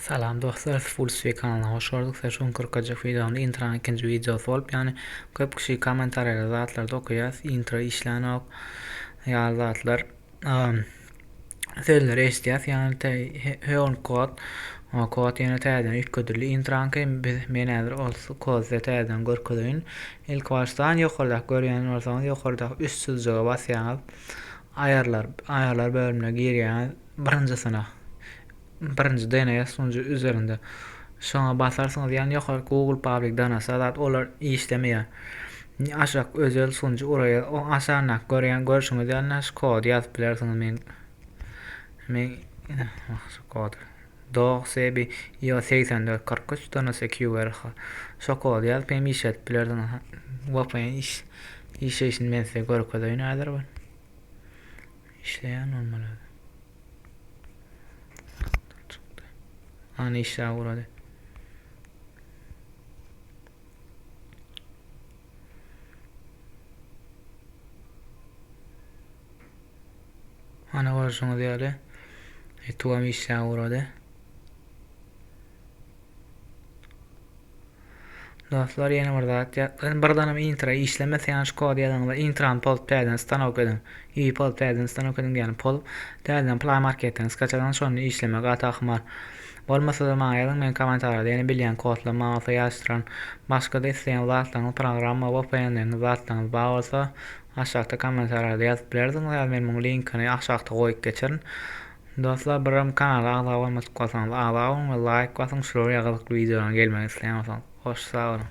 Salam dostlar siz full sweet kanalyna hoş gördük size şu gün kyrkajyk videomda intranyň ikinji videosy bolup ýany köp kişi kommentariýada zatlarda okaýas intro işlänok ýaly zatlar sözleri eşidýäs ýany te höwn kod kod ýene täzeden üýtgedildi intraňky biz men häzir ol kod size täzeden görkezeýin ilki başdan ýokardaky görýän bolsaňyz ýokardaky üst çyzyjyga basýaňyz aýarlar aýarlar bölümine girýäňiz Birinji synag. Birinji DNS sunjy üzerinde. Şoňa basarsyňyz ýa ýokary Google Public DNS zat olar işlemeýär. Aşak özel sunjy uraýa o aşanda görýän görşüňiz ýaly şu kody ýazyp bilersiňiz men men şu kod dog sebi io 84 43 DNS QRH şu kody ýazyp hem işledip bilersiňiz vpn iş işleýşini men size görkezeýin häzir bir Işleýän bolmaly özi. Hany işläp urady. Hany görşüňiz ýaly Etuwam işläp urady. Dostlar ýene bir zat ýatladym. Bir danym intra işlemese ýaňy şu kody ýazyňyzda intrany pozup täzeden stanok ediň. Ýi pozup täzeden stanok ediň diýýäni pozup täzeden play marketden skaçadan şonda işlemek gaty ahmal. Bolmasa-da maňa ýazyň men kommentariýada ýene bilýän kodlar maňa bolsa ýazyşdyran. Başga-da isleýän zatlaryňyz programma vpnleriňiz zatlaryňyz bar bolsa aşakda kommentariýada ýazyp bilersiňiz ýa-da men muň linkini aşakda goýup geçerin. Dostlar birim kanala agza bolmadyk bolsaňyz agza boluň we laýk basyň şular ýaly gyzykly wideolaryň gelmegini isleýän bolsaňyz hoş sag boluň.